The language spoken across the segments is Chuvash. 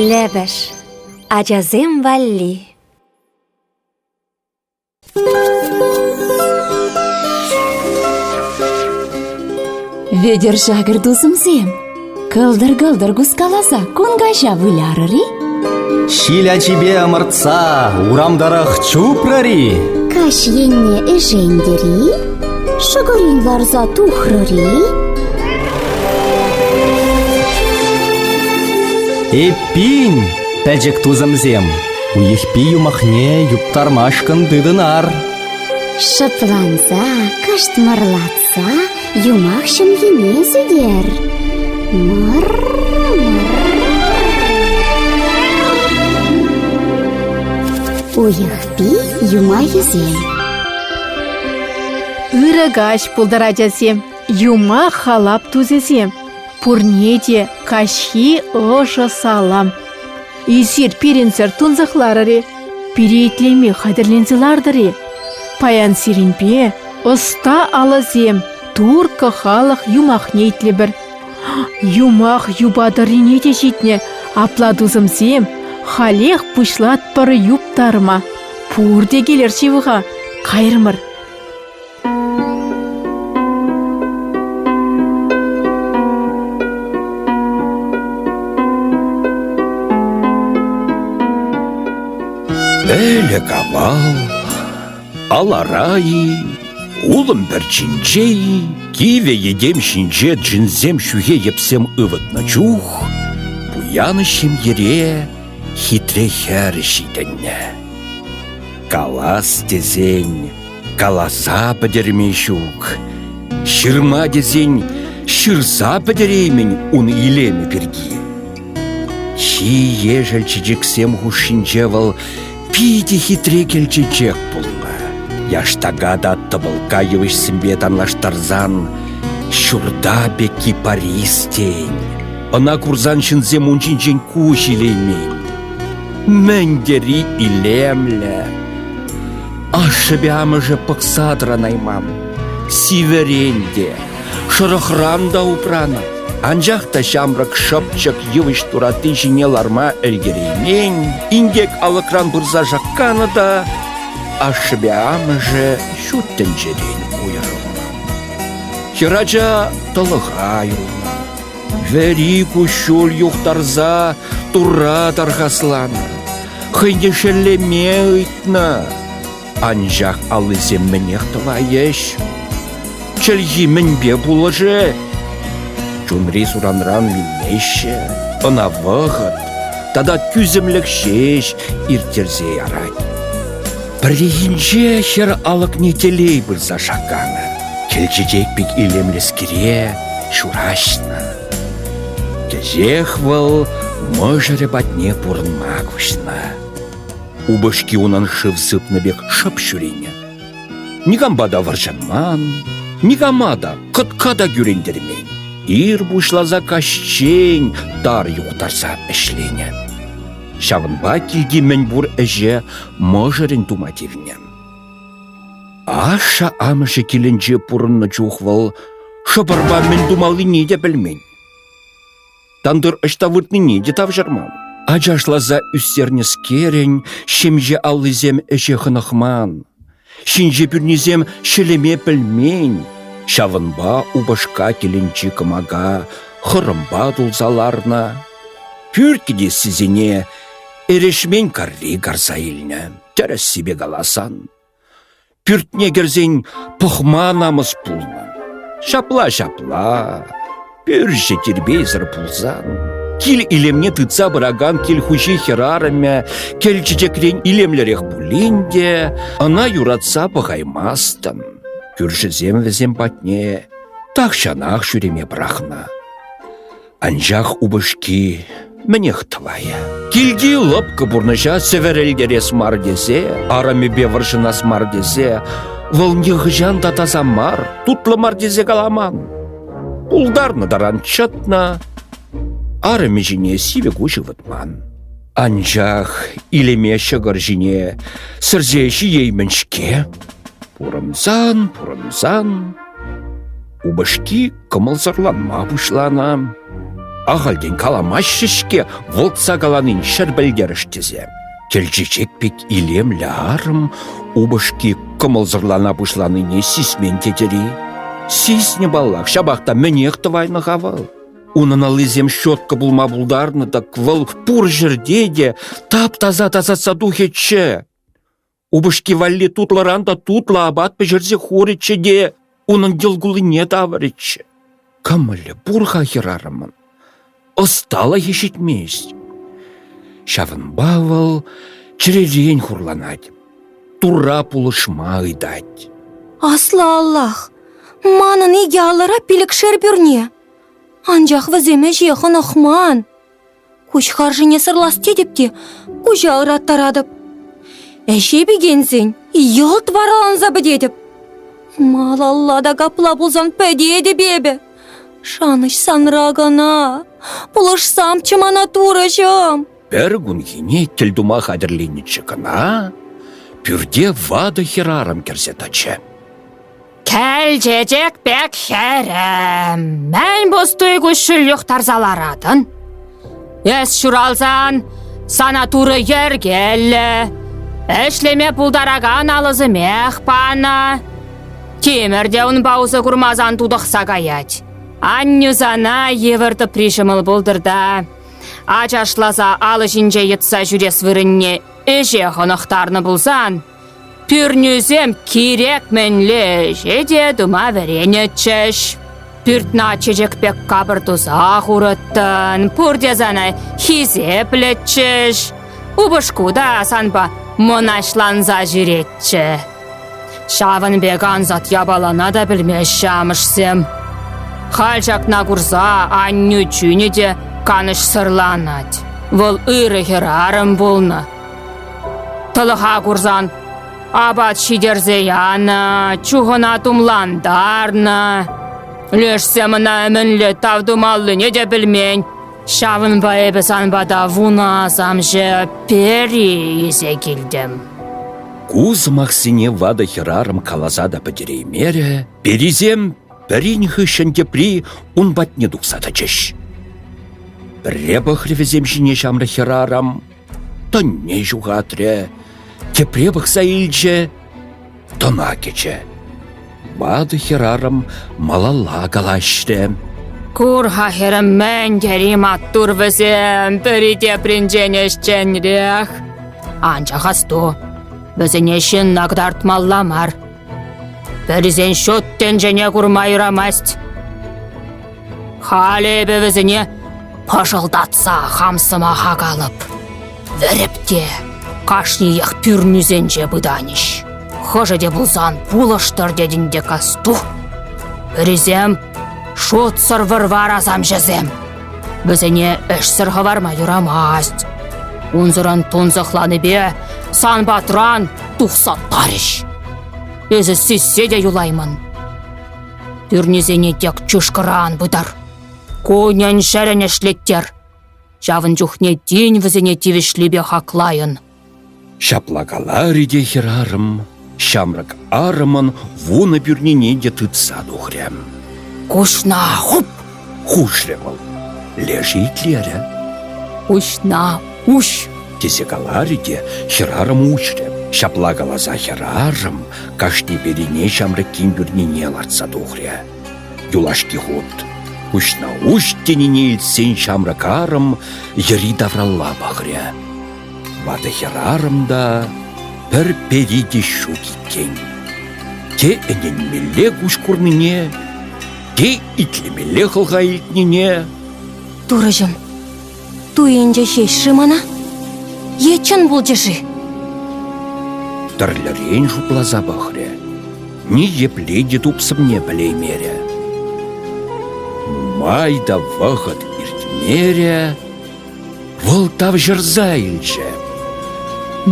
Лӗпӗш ачасем валли Вӗтӗр шакӑр тусӑмсем Кӑлтӑр-кӑлтӑр кускаласа кун каҫа вылярӑр-и? Ҫил ачипе ӑмӑртса урам тӑрӑх чупрӑр-и? Каҫ енне ӗшентӗр-и? Шӑкӑрин варса тухрӑр-и? Эппин, пӗчӗк тусӑмсем, уйӑхпи юмахне юптармашкӑн тытӑнар. Шӑпланса каштмӑрлатса Са юмах ҫӑмхине сӳтер. Уйӑхпи юмахӗсем Ырӑ каҫ пултӑр, ачасем! Юма халап тусӗсем! Пурне те каҫхи ӑшӑ салам! Эсир пирӗнсӗр тунсӑхларӑр-и? Пире итлеме хатӗрленсе лартӑр-и? Паян сирӗнпе ӑста алӑсем турккӑ халӑх юмахне итлӗпӗр. Юмах юпа тӑррине те ҫитнӗ. Апла, тусӑмсем, халех пуҫлатпӑр юптарма. Пурте килӗр ҫывӑха, кайрӑмӑр. Ӗлӗк-авал алара-и, улӑм пӗрчинче-и, кивӗ йӗтем ҫинче джинсем ҫӳхе йӗпсем ывӑтнӑ чух пуянӑш ҫемьере хитре хӗр ҫитӗннӗ. Калас тесен, Каласа пӗтерме ҫук. Ҫырма тесен ҫырса пӗтереймӗн ун илемӗ пирки. Чи ешӗл чечексем хушшинче вӑл питӗ хитре кӗлчечек пулнӑ. Яштака та тӑпӑлка йывӑҫсемпе танлаштарсан ҫурта пекки Парис тен. Ӑна курсан ҫынсем ун ҫинчен куҫ илеймен. Мӗн тери илемлӗ! Ашшӗпе амӑшӗ пӑхса тӑранайман. Сивӗрен те, шӑрӑхран та упранӑ. Анчах та ҫамрӑк шӑпчӑк йывӑҫ туратти ҫине ларма ӗлкӗреймен, инкек алӑкран пырса шакканӑ та ашшӗпе амӑшӗ ҫут тӗнчерен уйрӑлнӑ. Хӗрача тӑлӑха юлнӑ. Вӗри куҫҫуль юхтарса Турра тархасланӑ, хӑйне шеллеме ыйтнӑ. Анчах аллисем мӗнех тӑвайӗҫ? Чӗлхи мӗнпе пулӑшӗ? Чунри суранран вилмеҫҫӗ, ӑна вӑхӑт тата тӳсӗмлӗх ҫеҫ ирттерсе ярать. Пӗррехинче хӗр алӑкне телей пырса шакканӑ. Кӗлчетек пек илемлӗскере ҫураҫнӑ. Кӗҫех вӑл мӑшӑрӗ патне пурӑнма куҫнӑ. Упӑшки унӑн шыв сыпнӑ пек шӑп ҫӳренӗ. Никампа та вӑрҫӑнман, никама та, кӑтка та кӳрентермен. Ир пуҫласа каҫчен тар юхтарса ӗҫленӗ. Ҫавӑнпа килти мӗнпур ӗҫе мӑшӑрӗн тума тивнӗ. Ашшӗ-амӑшӗ килӗнче пурӑннӑ чух вӑл шӑпӑрпа мӗн тумаллине те пӗлмен. Тантӑр ӑҫта выртнине те тавҫӑрман. Ачашласа ӳстернӗскерӗн ҫемье аллисем ӗҫе хӑнӑхман. Ҫинҫе пӳрнисем ҫӗлеме пӗлмен, ҫавӑнпа упӑшка тӗлӗнчи кӑмака хӑрӑмпа тулса ларнӑ. Пӳртӗ те сисене эрешмен карри карса илнӗ, тӗрӗссипе каласан. Пӳртне кӗрсен пӑхма намӑс пулнӑ. Ҫапла-ҫапла. Пӳрчӗ тирпейсӗр пулсан, кил илемне тытса пыракан кил хуҫи хӗрарӑмӗ кӗл чечекрен илемлӗрех пулин те ӑна юратса пӑхаймастӑн. Кӳршӗсем вӗсем патне тахҫанах ҫӳреме пӑрахнӑ. Анчах упӑшки мӗнех тӑвайӗ. Килти лӑпкӑ пурнӑҫа сӗвӗрӗлтерес мар тесе, арӑмӗпе вӑрҫӑнас мар тесе, вӑл нихӑҫан та таса мар, тутлӑ мар тесе каламан. Пултарнӑ таран чӑтнӑ, арӑмӗ ҫине сивӗ куҫ ывӑтман. Анчах илеме ҫӑкӑр ҫине сӗрсе ҫиеймӗн-ҫке. Пурӑнсан, пурӑнсан Упӑшки кӑмӑлсӑрланма пуҫланӑ. Ахальтен каламаҫҫӗ-ҫке вӑлтса каланин ҫӗр пӗлтерӗш тесе. Кӗл чечек пек илемлӗ арӑм упӑшки кӑмӑлсӑрлана пуҫланине сисмен тетӗр-и? Сиснӗ паллах, ҫапах та мӗнех тӑвайнӑ-ха вӑл? Унӑн аллисем щетка пулма пултарнӑ, так вӑл пур ҫӗрте те тап-таса тасатса тухӗччӗ. Упӑшки валли тутлӑран та тутлӑ апат пӗҫерсе хурӗччӗ те унӑн йӑлкуллине тавӑрӗччӗ. Кӑмӑлӗ пур-ха хӗрарӑмӑн, ӑсталӑхӗ ҫитмест. Ҫавӑнпа вӑл чӗререн хурланать, Турра пулӑшма ыйтать. Аслӑ Аллах, манӑн икӗ аллӑра пилӗкшер пӳрне. Анчах вӗсем ӗҫе хӑнӑхман. Куҫ харшине сӑрлас тетӗп те куҫа ыраттаратӑп. Ӗҫе пикенсен йӑлт вараланса пӗтетӗп. Малалла та капла пулсан пӗтетӗп эпӗ. Шанӑҫ санра кана. Пулӑшсамччӗ мана турӑҫӑм. Пӗр кунхине тӗл тума хатӗрленнӗччӗ кана, пӳрте ватӑ хӗрарӑм кӗрсе тӑчӗ. Кӗлчечек пек хӗрӗм, мӗн пустуй куҫҫуль юхтарса ларатӑн? Эс ҫуралсан сана турӑ йӗркеллӗ, ӗҫлеме пултаракан алӑсемех панӑ. Тимӗр те унпа усӑ курмасан тутӑхса каять. Аннӳ сана йывӑр тӑпри ҫӑмӑл пултӑр та ачашласа алӑ ҫинче йӑтса ҫӳрес вырӑнне ӗҫе хӑнӑхтарнӑ пулсан Пӳрнӳсем кирек мӗнле ӗҫе те тума вӗренӗччӗҫ. Пӳртна чечек пек капӑр туса хурӑттӑн, пурте сана хисеплӗччӗҫ. Упӑшку та санпа мӑнаҫланса ҫӳретчӗ. Ҫавӑн пек ансат япалана та пӗлмеҫҫӗ амӑшсем. Халь ҫакна курса аннӳ чунӗ те канӑҫсӑрланать. Вӑл ырӑ хӗрарӑм пулнӑ. Тӑлӑха курсан апат ҫитерсе янӑ, чухӑна тумлантарнӑ. Лешсем ӑна мӗнле тав тумаллине те пӗлмен. Ҫавӑнпа эпӗ сан пата вунасамҫӑ пери илсе килтӗм. Ку сӑмахсене ватӑ хӗрарӑм каласа та пӗтереймерӗ, перисем пӗрин хыҫҫӑн тепри ун патне тухса тӑчӗҫ. Пӗрре пӑхрӗ вӗсем ҫине ҫамрӑк хӗрарӑм, Тӑнне ҫухатрӗ, тепре пӑхса илчӗ, тӑна кӗчӗ. Ватӑ хӗрарӑм малалла калаҫрӗ. Кур-ха хӗрӗм, мӗн тери маттур вӗсем, пӗри тепринчен ӗҫченрех. Анчах асту, вӗсене ҫынна кӑтартмалла мар. Пӗрисен ҫут тӗнчене курма юрамасть. Халӗ эпӗ вӗсене пӑшӑлтатса хам сӑмаха калӑп. Вӗреп те кашниех пӳрнӳсенче пытанӗҫ. Хӑшӗ те пулсан пулӑштӑр тетӗн те касту. Пӗрисем шутсӑр вӑрвар асамҫӑсем, Вӗсене ӗҫсӗр хӑварма юрамасть. Унсӑрӑн тунсӑхланипе сан патран тухса тарӗҫ. Эсӗ сиссе те юлаймӑн. Пӳрнисене тек чышкӑран пытар. Кунӗн-ҫӗрӗн ӗҫлеттер. Ҫавӑн чухне тин вӗсене тивӗҫлипе хаклайӑн. Ҫапла каларӗ те хӗрарӑм ҫамрӑк арӑмӑн вунӑ пӳрнине те тытса тухрӗ. «Куҫна хуп!» – хушрӗ вӑл. Лешӗ итлерӗ. «Куҫна уҫ!» тесе каларӗ те хӗрарӑм уҫрӗ. Ҫапла каласа хӗрарӑм кашни перине ҫамрӑккин пӳрнине лартса тухрӗ. Юлашки хут куҫна уҫ тенине илтсен ҫамрӑк арӑм йӗри-тавралла пӑхрӗ. Ватӑ хӗрарӑм та пӗр пери те ҫук иккен. Те ӗненмелле куҫ курнине, те итлемелле хӑлха илтнине. Турӑҫӑм, туйӑнчӗ ҫеҫ-ши мана? Е чӑн пулчӗ-ши? Тӗрлӗрен шутласа пӑхрӗ. Ни епле те тупсӑмне пӗлеймерӗ. Нумай та вӑхӑт иртмерӗ, Вӑл тавҫӑрса илчӗ.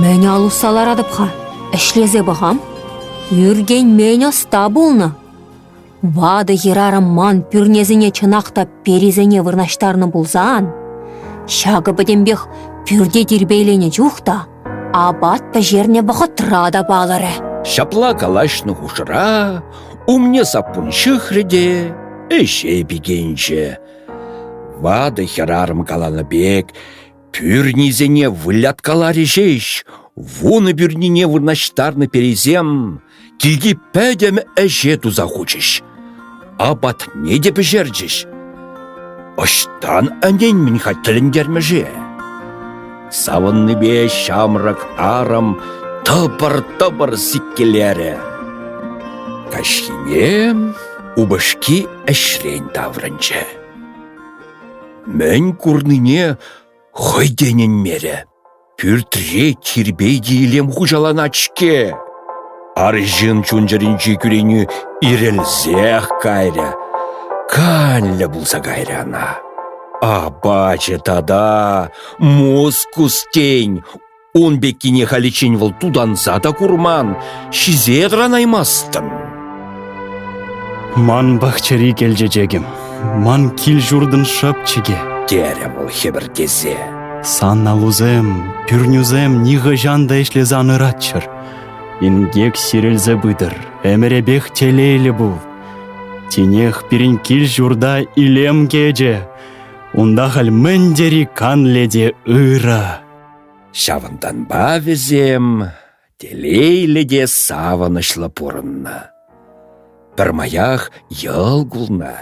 Мӗн ал усса ларатӑп-ха? Ӗҫлесе пӑхам. Ӳркен мӗн ӑста пулнӑ. Ватӑ хӗрарӑм ман пӳрнесене чӑнах та перисене вырнаҫтарнӑ пулсан, ҫакӑ пӗтӗмпех пӳрте тирпейленӗ чух та апат пӗҫернӗ вӑхӑтра та палӑрӗ. Ҫапла калаҫнӑ хушӑра умне саппун ҫыхрӗ те ӗҫе пикенчӗ. Ватӑ хӗрарӑм каланӑ пек пӳрнисене выляткаларӗ ҫеҫ, вунӑ пӳрнине вырнаҫтарнӑ перисем килти пӗтӗм ӗҫе туса хучӗҫ, апатне те пӗҫерчӗҫ. Ӑҫтан ӗнен-мӗн-ха тӗлӗнтермӗше? Савӑннипе ҫамрӑк арӑм тӑпӑр-тӑпӑр сиккелерӗ. Каҫхине упӑшки ӗҫрен таврӑнчӗ. Мӗн курнине хӑй те ӗненмерӗ. Пӳртре тирпей-те илем хуҫаланать-ҫке. Арҫын чун-чӗринчи кӳренӳ ирӗлсех кайрӗ. Канлӗ пулса кайрӗ ӑна. Апачӗ тата Москус тен, ун пеккине халиччен вӑл тутанса та курман, ҫисе тӑранаймастӑн. Ман пахчари кӗлчечекӗм, ман кил-ҫуртӑн шӑпчӑкӗ, терӗ вӑл хӗпӗртесе. Сан алусем, пӳрнӳсем нихӑҫан та ӗҫлесе ан ыратчӑр. Инкек сирӗлсе пытӑр, ӗмӗрӗпех телейлӗ пул. Тинех пирӗн кил-ҫурта илем кӗчӗ. Унта халь мӗн тери канлӗ те ырӑ. Ҫавӑнтанпа вӗсем телейлӗ те савӑнӑҫлӑ пурӑннӑ. Пӗрмаях йӑл кулнӑ,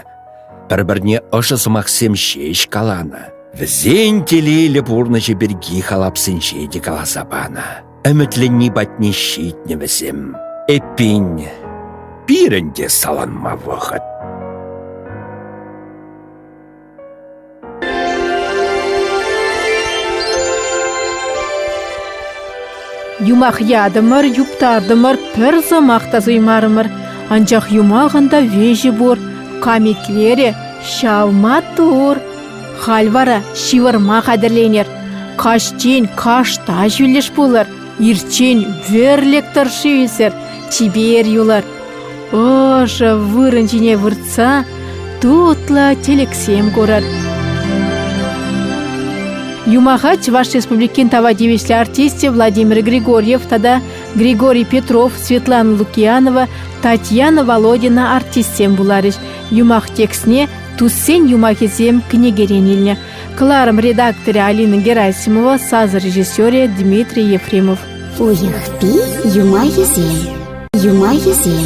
пӗр-пӗрне ӑшӑ сӑмахсем ҫеҫ каланӑ. Вӗсен телейлӗ пурнӑҫӗ пирки халапсенче те каласа панӑ. Ӗмӗтленни патне ҫитнӗ вӗсем. Эппин, пирӗн те саланма вӑхӑт. Юмах ятӑмӑр, юптартӑмӑр, пӗр сӑмах та суймарӑмӑр. Анчах юмахӑн та веҫӗ пур, камитлерӗ, ҫав маттур. Халь вара ҫывӑрма хатӗрленер. Каҫчен кашта ҫӳллӗш пулӑр. Ирчен верлек тӑршши ӳсӗр, чипер юлар. Ӑшӑ вырӑн ҫине выртса тутлӑ тӗлӗксем курӑр. Юмаха Чӑваш Республикин тава тивӗҫлӗ артисчӗ Владимир Григорьев тата Григорий Петров, Светлана Лукиянова, Татьяна Володина артистсем вуларӗҫ. Юмах текстне «Туссен юмахӗсем» кӗнекерен илнӗ. Кӑларӑм редакторӗ Алина Герасимова, сас режиссерӗ Дмитрий Ефремов. Уйӑхпи юмахӗсем, юмахӗсем.